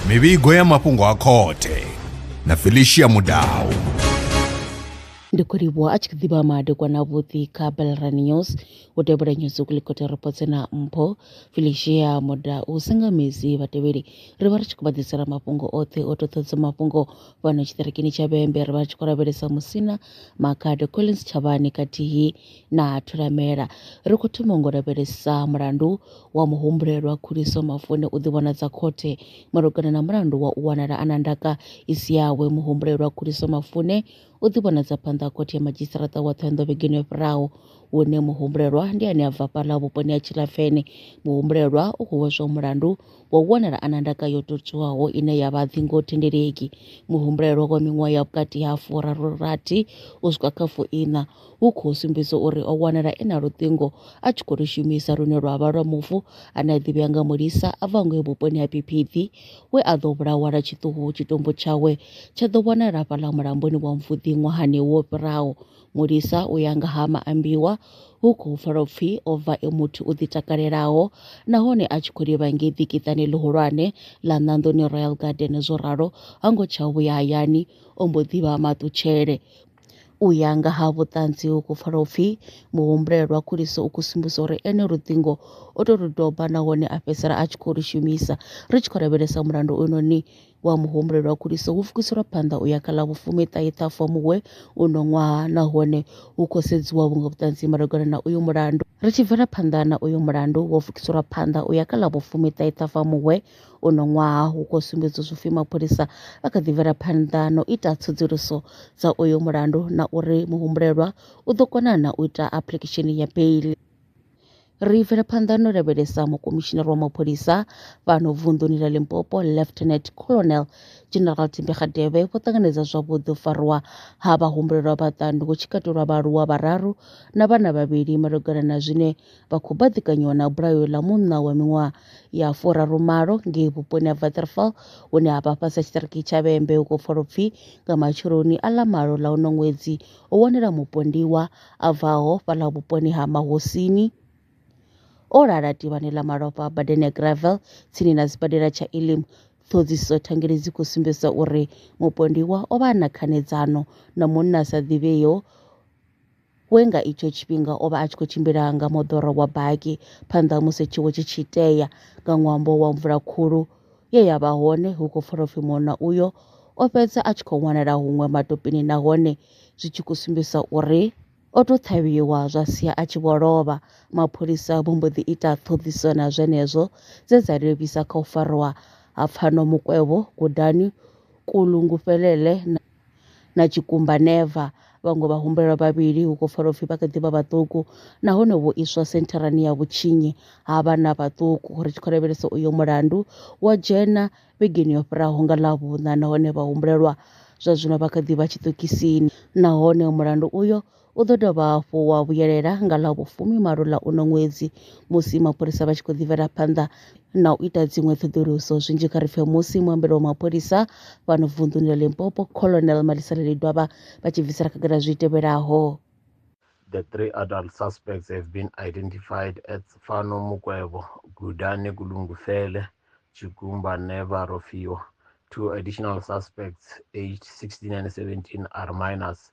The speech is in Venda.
mivhigo ya mafhungo a khothe na felicia mudau ndi khou livhuwa a tshi ḓivha madekwa na vhuḓi kha belran news u tevhela news kulikota ripotse na mpho felicia moda u senga mezi vhatevheli ri vha ri tshi khou vha ḓisela mafhungo oṱhe o toṱhodza mafhungo fhano tshiṱirikini tsha vhembe ri vha ri tshi khou lavhelesa musina makhado collins tshavhani khathihi na thulamela. Ri khou thoma ngo lavhelesa mulandu wa muhumbulelwa Khuliso Mafune u ḓivhonadza khothe malugana na mulandu wa u wanala a na ndaka i si yawe. Muhumbulelwa Khuliso Mafune u ḓivhonadza phanḓa ha khothe ya madzhisiṱaraṱa wa Ṱhohoyanḓou vhegeni yo fhiraho hune muhumbulelwa ndi ane a bva fhaḽa vhuponi ha Tshilafene. Muhumbulelwa u khou hweswa mulandu wa u wanala a na ndaka yo totswiwaho ine ya vha dzingo thendeleki. Muhumbulelwa wa miṅwaha ya vhukati ha furaru rathi u swika kha fuiṋa hu khou sumbedza uri o wanala e na luṱingo a tshi khou lu shumisa lune lwa vha lwa mufu ane a ḓivhea nga mulisa a bva ngei vhuponi ha Piphiphi we a ḓo vhulawa lwa tshiṱuhu tshitumbu tshawe tsha ḓo wanala hafhaḽa mulamboni wa Mvuḓi ṅwahani wo fhiraho. Mulisa u ya nga ha maambiwa hu khou pfala upfi o bva e muthu u ḓitakalelaho nahone a tshi khou livha ngei ḓikiṱani ḽihulwane ḽa Ṋanḓoni Royal Garden zwo ralo ha ngo tsha vhuya hayani o mbo ḓi vha maṱutshele. U ya nga ha vhuṱanzi hu khou pfala upfi muhumbuleli lwa khuliso u khou sumbisa uri ene luṱingo o tou lu doba nahone a fhedzisela a tshi khou lu shumisa. Ri tshi khou lavhelesa mulandu uynoni wa muhumbuleli lwa khuliso hu pfukiselwa phanḓa u ya kha ḽa vhufumiṱahe Ṱhafamuhwe uno ṅwaha nahone hu khou sedziwa vhuṅwe vhuṱanzi malugana na uyu mulandu. Ri tshi bvela phanḓa na uyu mulandu wo pfukiselwa phanḓa u ya kha ḽa vhufumiṱahe Ṱhafamuhwe Uno ṅwaha hu khou sumbedza zwipfi mapholisa a kha ḓi bvela phanḓa na u ita tsedzuluso dza uyo mulandu na uri muhumbulelwa u ḓo kona na u ita application ya bail ri bvela phanḓa no lavhelesa mukomishinari wa mapholisa fhano vunḓuni ḽa limpopo lieutenant colonel general timbegadebe vho ṱanganedza zwavhuḓi u fariwa ha vhahumbulelwa vhaṱanu hu tshi katelwa vhaaluwa vhararu na vhana vhavhili malugana na zwine vha khou baḓikanyiwa na bulayo ḽa munna wa miṅwaha ya furaru malo ngei vhuponi ha Vatterfall hune ha vha fhasi ha tshiṱiriki tsha Vhembe hu khou pfala upfi nga matsheloni a ḽa malo ḽa uno ṅwedzi ho wanala mupondiwa a bvaho fhaḽa vhuponi ha Mahosini o lala tivhani ḽa malofha badani ya Gravel tsini na sibadela tsha Elim ṱhodziso thangeli dzi khou sumbedza uri mupondiwa o vha a na khanedzano na munna sa ḓivheyo we nga itsho tshifhinga o vha a tshi khou tshimbila nga moḓoro wa baki phanḓa ha musi tshiwo tshi tshi tea nga ṅwambo wa mvula khulu ye ya vha hone hu khou pfala upfi munna uyo o fhedza a tshi khou wanala huṅwe matopini nahone zwi tshi khou sumbisa uri o tou ṱhavhiwa zwa sia a tshi vho lovha mapholisa vho mbo ḓi ita ṱhoḓiso na zwenezwo dze dza livhisa kha u farwa ha pfano mukwevho gudani kulungufhelele na na tshikumba never. Vhaṅwe vhahumbulelwa vhavhili hu khou pfala upfi vha kha ḓi vha vhaṱuku nahone vho iswa sentharani ya vhutshinyi ha vhana vhaṱuku ri tshi khou lavhelesa uyo mulandu wa dzhena vhegeni yo fhiraho nga ḽavhuṋa nahone vhahumbulelwa zwa zwino vha kha ḓi vha tshiṱokisini nahone mulandu uyo U ḓo dovha hafhu wa vhuyelela nga ḽa vhufumimalo ḽa uno ṅwedzi musi mapholisa vha tshi khou ḓivhela phanḓa na u ita dziṅwe ṱhoḓuluso. Zwinzhi kha ri pfe musi muambeli wa mapholisa fhano vunḓuni ḽa Limpopo, Colonel Malisela Lidwaba vha tshi bvisela khagala zwi tevhelaho. The three adult suspects have been identified as Fano Mukwebo, Gudane Kulungufele, Chigumba Neva Rofiwa. Two additional suspects, aged 16 and 17, are minors.